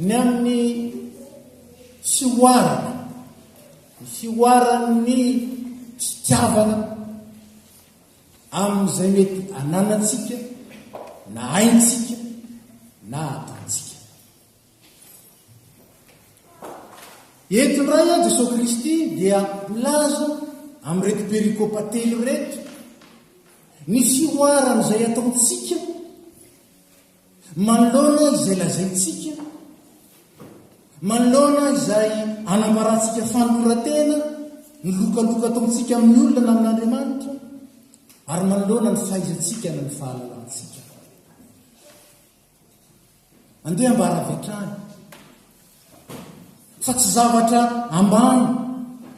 Ny amin'ny fihoarana, ny fihoaran'ny fitiavana amin'izay mety ananantsika na haintsika na ataontsika. Eto indray aho Jesosy Kristy dia milaza amin'ireto perikopa telo ireto ny fihoaran'izay ataontsika Manoloana izay lazaintsika, manoloana izay anambarantsika fanoloran-tena, ny lokaloka ataontsika amin'ny olona na amin'Andriamanitra, ary manoloana ny fahaizantsika na ny fahalalantsika. Andeha ambara avy hatrany fa tsy zavatra ambany,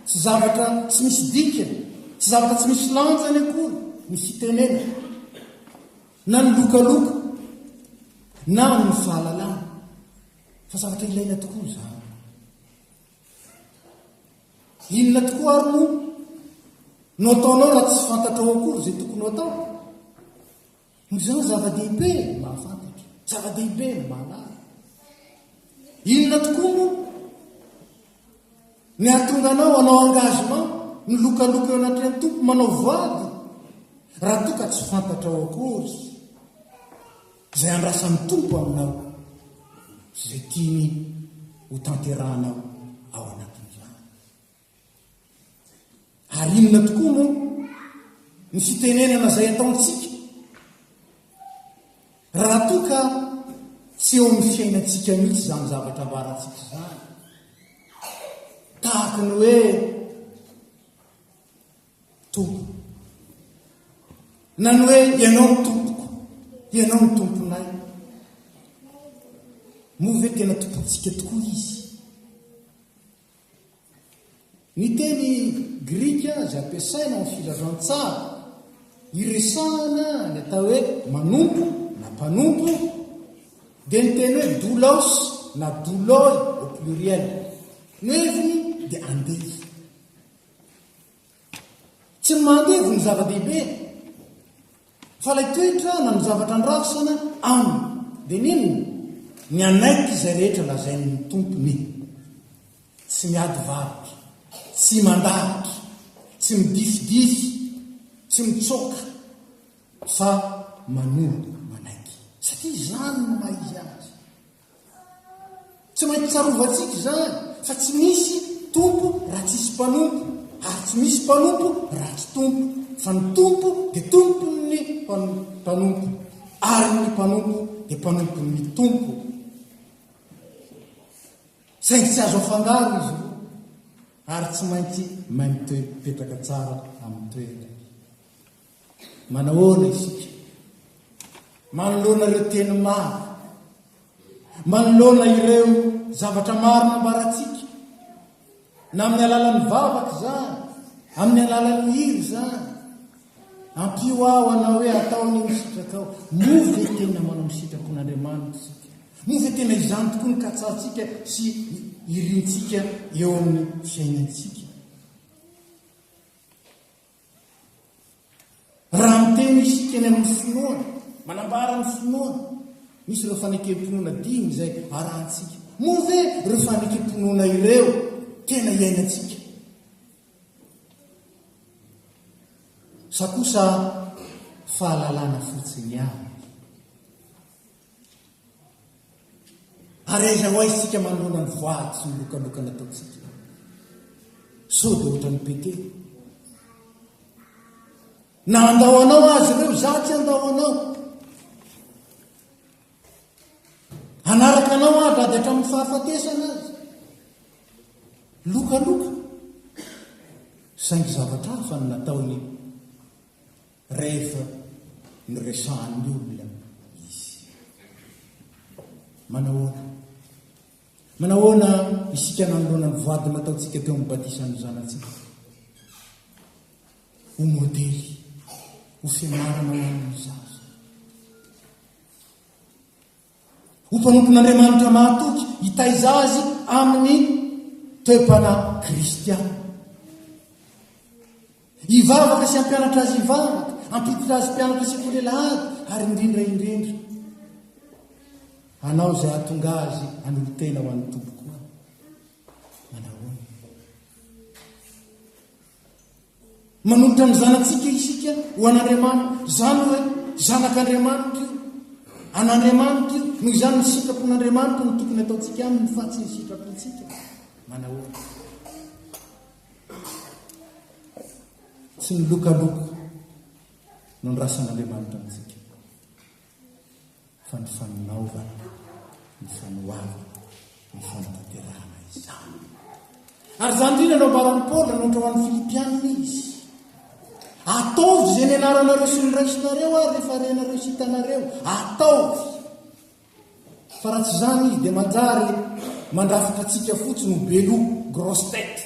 tsy zavatra tsy misy dikany, tsy zavatra tsy misy lanjany akory ny fitenenana. Na ny lokaloka, na ny fahalalana, fa zavatra ilaina tokoa izany. Inona tokoa ary moa no ataonao raha tsy fantatrao akory izay tokony ho atao? Noho izany zava-dehibe ny mahafantatra, zava-dehibe ny mahalala. Inona tokoa moa Ny hahatonga anao hanao engagement, milokaloka eo anatrehan'ny Tompo, manao voady, raha toa ka tsy fantatrao akory izay andrasan'ny Tompo aminao, sy izay tiany ho tanterahanao ao anatin'izany. Ary inona tokoa moa ny fitenenana izay ataontsika raha toa ka tsy eo amin'ny fiainantsika mihitsy izany zavatra ambarantsika izany? Tahaka ny hoe tompo. Na ny hoe ianao ny tompoko, ianao ny tomponay. Moa ve tena tompontsika tokoa izy? Ny teny grika izay ampiasaina ao amin'ny filazantsara iresahana ny atao hoe manompo na mpanompo dia ny teny hoe doulos na douloi au pluriel. Ny heviny dia andevo. Tsy ny maha andevo no zava-dehibe Fa ilay toetra na ny zavatra andrasana aminy dia ny inona? Ny hanaiky izay rehetra lazain'ny Tompony. Tsy miady varotra, tsy mandaritra, tsy midifidify, tsy mitsoaka, fa manoa manaiky, satria izany no maha izy azy. Tsy maintsy tsarovantsika izany fa tsy misy tompo raha tsisy mpanompo ary tsy misy mpanompo raha tsy tompo fa ny tompo dia tompon'ny mpanompo ary ny mpanompo dia mpanompon'ny tompo saingy tsy azo afangaro izy ary tsy maintsy maimitepetraka tsara amin'ny toerana Manahoana isika? Manoloana ireo teny maro, manoloana ireo zavatra maro nambarantsika, na amin'ny alalan'ny vavaka izany, amin'ny alalan'ny hira izany, ampio aho anao hoe atao ny misitraka ao, moa ve tena manao misitrako n'Andriamanitra isika? Moa ve tena izany tokoa ny katsahantsika sy irintsika eo amin'ny fiainantsika? Raha miteny isika eny amin'ny finoana, manambara ny finoana, misy ireo fanekempinoana dimy izay arahantsika. Moa ve ireo fanekempinoana ireo tena iainantsika? Sa kosa fahalalana fotsiny ihany? Ary aiza ho aiza isika manoloana ny voady sy ny lokaloka nataontsika? Sao dia ohatran'i Petera? Na handao anao azy ireo, izaho tsy handao anao. Hanaraka anao aho na dia hatramin'ny fahafatesana azy. Lokaloka. Saingy zavatra hafa no nataony Rehefa niresahan'ny olona izy. Manahoana? Manahoana isika nanoloana ny voady nataontsika teo amin'ny batisan'ny zanatsika? Ho modely, ho fianarana ho an'ny zaza. Ho mpanompon'Andriamanitra mahatoky hitaiza azy amin'ny toepana kristiana. Hivavaka sy hampianatra azy hivavaka, hampiditra azy mpianatra sy kolelahady, ary indrindra indrindra. Hanao izay hatonga azy hanolotena ho an'ny Tompo. Manolotra ny zanatsika isika ho an'Andriamanitra. Izany hoe zanak'Andriamanitra io. An'Andriamanitra io. Noho izany ny sitrapon'Andriamanitra no tokony ataontsika aminy fa tsy ny sitrapontsika. Manahoana? Tsy ny lokaloko no nirasan'Andriamanitra antsika. fa ny faninaovana, ny fanoharana, ny fanatanterahana izany. Ary izany indrindra no ambaran'i Paoly raha ohatra ho an'ny Filipianina izy. Ataovy izay nianaranareo sy niraisinareo ary rehefa renareo sy hitanareo, ataovy. Fa raha tsy izany izy dia manjary mandrafitra antsika fotsiny ho beloha, grosse tête.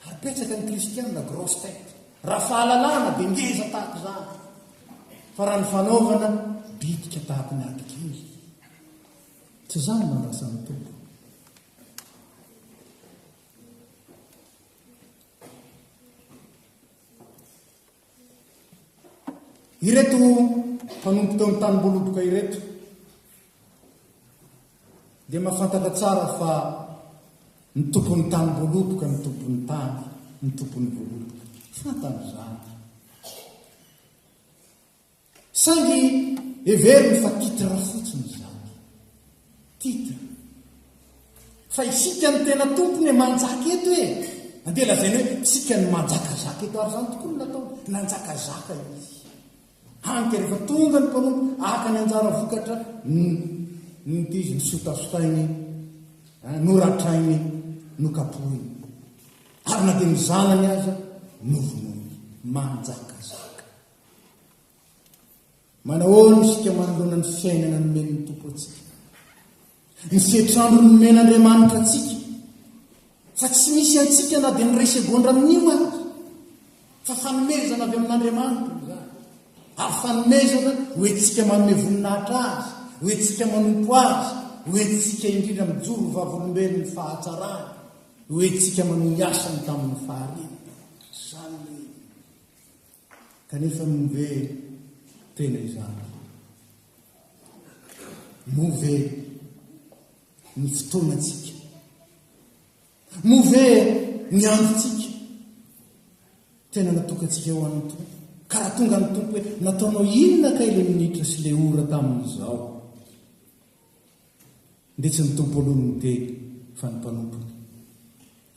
Ary betsaka ny kristiana grosse tête raha fahalalahana dia ngeza tahaka izany fa raha ny fanaovana bitika tahaka ny abigail tsy izany no andrasan'ny tompo Ireto mpanompo teo amin'ny tanimboaloboka ireto dia mahafantatra tsara fa ny tompon'ny tanimboaloboka ny tompon'ny tany, ny tompon'ny voaloboka. Fantany izany. Saingy heveriny fa titre fotsiny izany. Titre. Fa isika no tena tompony e, manjaka eto e! Andeha lazaina hoe isika no manjakazaka eto, ary izany tokoa no nataony, nanjakazaka izy. Hany ka rehefa tonga ny mpanompo haka ny anjara vokatra, nonty izy, nosotasotainy, noratrainy, nokapohiny. Ary na dia ny zanany aza novonoiny. Manjakazaka. Manahoana isika manoloana ny fiainana nomen'ny Tompo antsika? Ny setrandro nomen' Andriamanitra antsika fa tsy misy antsika na dia ny ray segondra amin'io aza fa fanomezana avy amin'Andriamanitra izany ary fanomezana hoentsika manome voninahitra azy hoentsika manompo azy hoentsika indrindra mijoro vavolombelon'ny fahatsarany hoentsika manohy asany tamin'ny fahariana izany Kanefa moa ve tena izany? Moa ve ny fotoanantsika? Moa ve ny androntsika? Tena natokantsika ho an'ny Tompo? Ka raha tonga ny Tompo hoe nataonao inona kay ilay minitra sy ilay ora tamin'izao? Ndeha tsy ny tompo aloha no miteny fa ny mpanompony.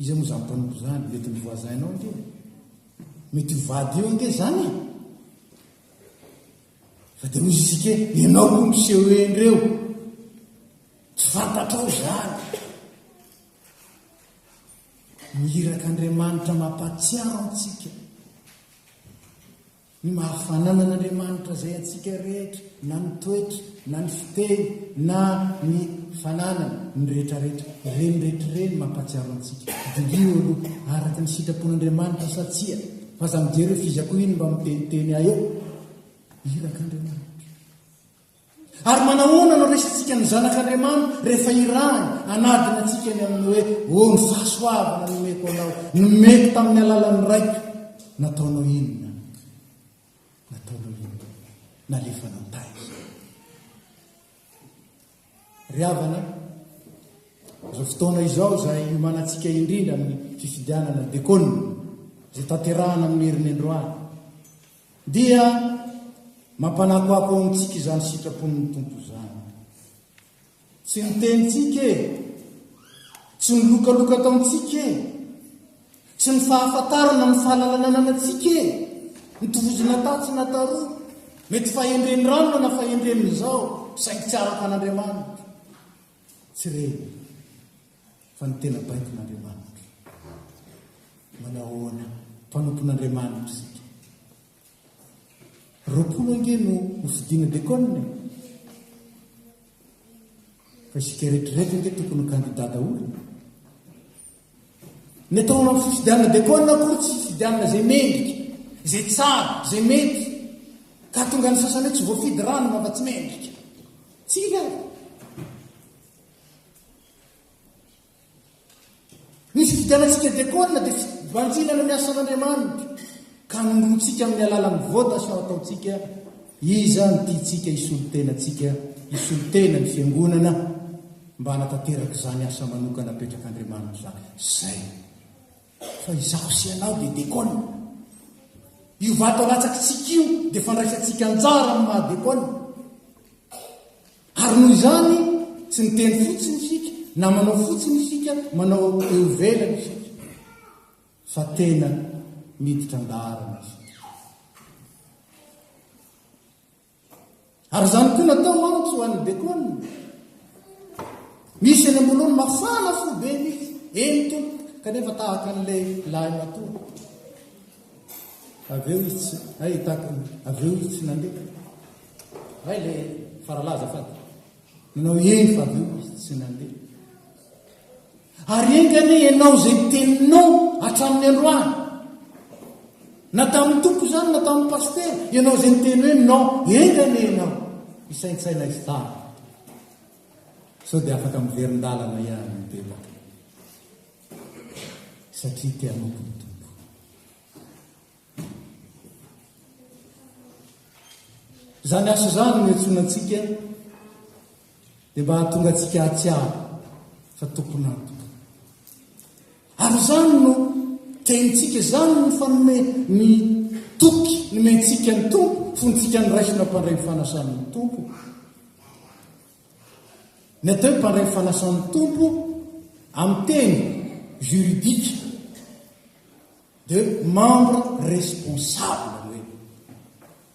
Iza moa zany mpanompo zany? Mety ny voisin nao ange e! Mety io vady io ange zany e! Fa de hoy isika hoe ianao aloha miseho eny reo! Tsy fantatrao zany! Ny irak'Andriamanitra mampatsiaro antsika. Ny maha-fananan'Andriamanitra izay antsika rehetra, na ny toetra, na ny fiteny, na ny fananany, ny rehetrarehetra, ireny rehetra ireny mampahatsiaro antsika, Diniho aloha, araka ny sitrapon'Andriamanitra sa tsia, fa aza mijery hoe f'iza koa iny mba miteniteny ahy eo, irak'Andriamanitra. Ary manahoana no resintsika ny Zanak'Andriamanitra rehefa irahiny, anadina antsika ny amin'ny hoe, O ny fahasoavana nomeko anao, nomeko tamin'ny alalan'ny raiko, nataonao inona? Nataonao inona? Nalefa nantahy. Ry havana, izao fotoana izao izay hiomanantsika indrindra amin'ny fifidianana dekona, izay tanterahana amin'ny herin'ny androany. Dia mampanakoako ao amintsika izany sitrapon'ny Tompo izany. Tsy ny tenintsika e, tsy ny lokaloka ataontsika e, tsy ny fahafantarana ny fahalalananana antsika e, ny tovozina tatsy na taroa, mety fahendren'ny ranona na fahendren'izao, saingy tsy araka an'Andriamanitra. Tsy reny. Fa ny tena baikon'Andriamanitra. Manao ahoana? Mpanompon'Andriamanitra isika. Roapolo ange no hofidina dekona e. Fa isika rehetrarehetra ange tokony ho kandidà daholo. Ny atao amin'ny fifidianana dekona akory tsy fifidianana izay mendrika, izay tsara, izay mety. Ka tonga ny sasany tsy voafidy rano mba tsy mendrika. Tsy ilay. Ny fifidianantsika diakona dia fibanjinana ny asan'Andriamanitra, ka anondrontsika amin'ny alalan'ny votas no ataontsika iza no tiantsika hisolo tena antsika, hisolo tena ny fiangonana mba hanatanteraka izany asa manokana apetrak'Andriamanitra izany. Izay. Fa izaho sy ianao dia diakona. Io vato alatsakitsika io dia fandraisantsika anjara amin'ny maha diakona. Ary noho izany, tsy miteny fotsiny isika, na manao fotsiny isika, manao eo ivelany isika, fa tena miditra an-daharana isika. Ary izany koa natao mantsy ho an'ny Bekona. Misy eny am-bolony mafana fo be mihitsy, eny tompo, kanefa tahaka an'ilay lahy matoa. Avy eo izy tsy, hay i Tato, avy eo izy tsy nandeha. Hay le faralahy azafady. Nanao eny fa avy eo izy tsy nandeha. Ary enga anie ianao izay teninao hatramin'ny androany. Na tamin'ny tompo izany na tamin'ny pasitera, ianao izay miteny hoe non, enga anie ianao hisaintsaina izy tany. Sao dia afaka miverin-dalana ihany ny bebaka. satria te hanompo ny Tompo. Izany asa izany no iantsoana antsika dia mba hahatonga antsika hahatsiaro fa tompon'antoka. Ary izany no tenintsika, izany no fanome ny toky nomentsika ny Tompo, fontsika niraisina mpandray ny fanasan'ny Tompo. Ny atao hoe mpandray ny fanasan'ny Tompo amin'ny teny juridique dia membre responsable hoe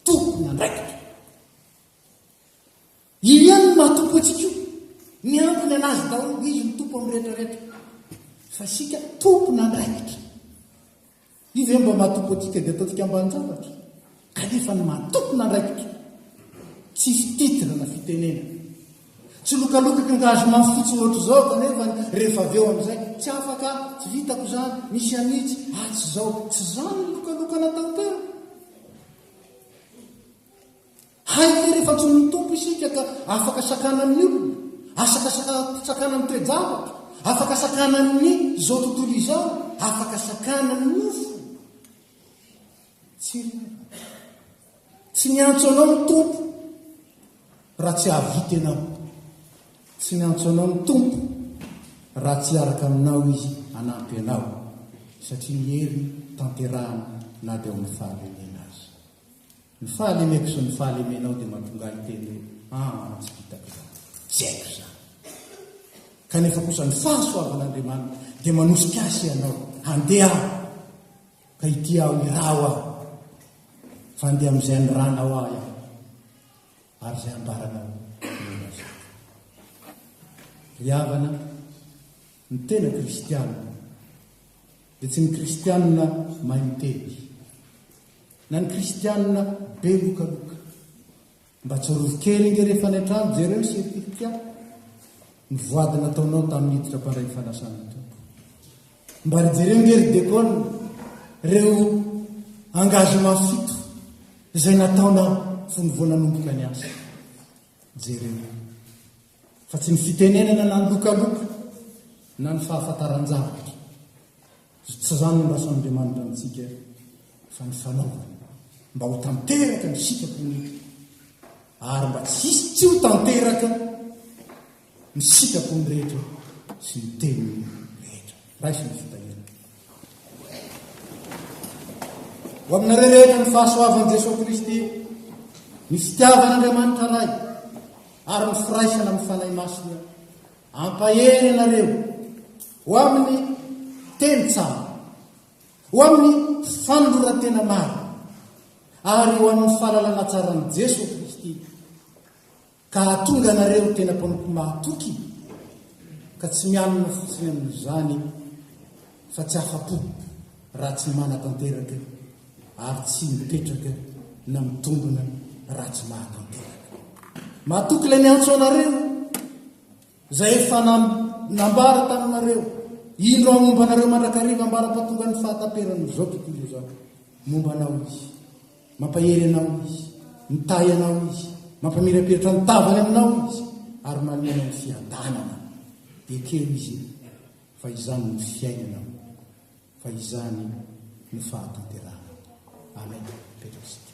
tompon'andraikitra. Io ihany no mahatompo antsika io. Ny antony anazy daholo izy ny tompo amin'ny rehetra rehetra. Fa isika tompon'andraikitra. Io ve mba maha topotika dia ataontsika ambanin-javatra? Kanefa ny maha tompon'andraikitra tsisy titre na fitenena. Tsy lokalokaka nga azy mafy fotsiny ohatr'izao kanefa ny rehefa avy eo amin'izay, tsy afaka aho, tsy vitako izany, misy an'itsy, ah tsy izao, tsy izany ny lokalokana tantera. Hay ve rehefa antsoin' ny Tompo isika ka afaka sakanan' ny olona, asaka sakanan' ny toe-javatra, afaka sakanan' ny izao tontolo izao, afaka sakanan' ny nofo? Tsy re. Tsy niantso anao ny Tompo raha tsy hahavita ianao. Tsy niantso anao ny Tompo raha tsy hiaraka aminao Izy hanampy anao, satria ny heriny tanterahana na dia ao amin' ny fahalehilehiana aza. Ny fahalemeko sy ny fahalemenao dia mahatonga ahy hiteny hoe, Aa, tsy vitako izany. Tsy haiko izany. Kanefa kosa ny fahasoavan'Andriamanitra dia manosika ahy sy ianao handeha aho, ka hitia aho, hiraho aho, fa handeha amin'izay aniranao ahy aho, ary izay ambaranao no ilazako. Ry havana, Ny tena kristiana dia tsy ny kristiana mahay miteny na ny kristiana be lokaloka. Mba tsarovy kely nge rehefa any an-trano jereo setilika ny voady nataonao tamin'ny hiditra mpandray ny fanasan'ny Tompo. Mba ry jereo nge ry dekona reo engagement fito izay nataonao fony vao nanomboka ny asa. Jereo. Fa tsy ny fitenenana na ny lokaloka na ny fahafantaran-javatra. Tsy izany no andrasan'Andriamanitra amintsika fa ny fanaovana mba ho tanteraka ny sitrapony ary mba tsy hisy tsy ho tanteraka ny sitrapony rehetra sy ny teniny rehetra. raisin'ny fitahiana. Ho aminareo rehetra ny fahasoavan'i Jesoa Kristy, ny fitiavan'Andriamanitra Ray, ary ny firaisana amin'ny Fanahy Masina, ampahery ianareo ho amin'ny teny tsara, ho amin'ny fanoloran-tena maro, ary ho amin'ny fahalalana tsaran'i Jesoa Kristy, Ka hahatonga anareo ho tena mpanompo mahatoky, ka tsy mianina fotsiny amin'izany fa tsy afa-po raha tsy manatanteraka ary tsy mipetraka na mitombina raha tsy mahatanteraka. Mahatoky ilay niantso anareo, izay efa nambara taminareo, indro aho momba anareo mandrakariva ambara-pahatongan'ny fahataperan'ny zao tontolo izao, momba anao izy. Mampahery anao Izy, mitahy anao Izy, mampamirapiratra ny tavany aminao Izy, ary manome anao ny fiadanana. Ekeo izy io, fa izany no fiainanao, fa izany no fahatanterahana. Amen. Petraka isika.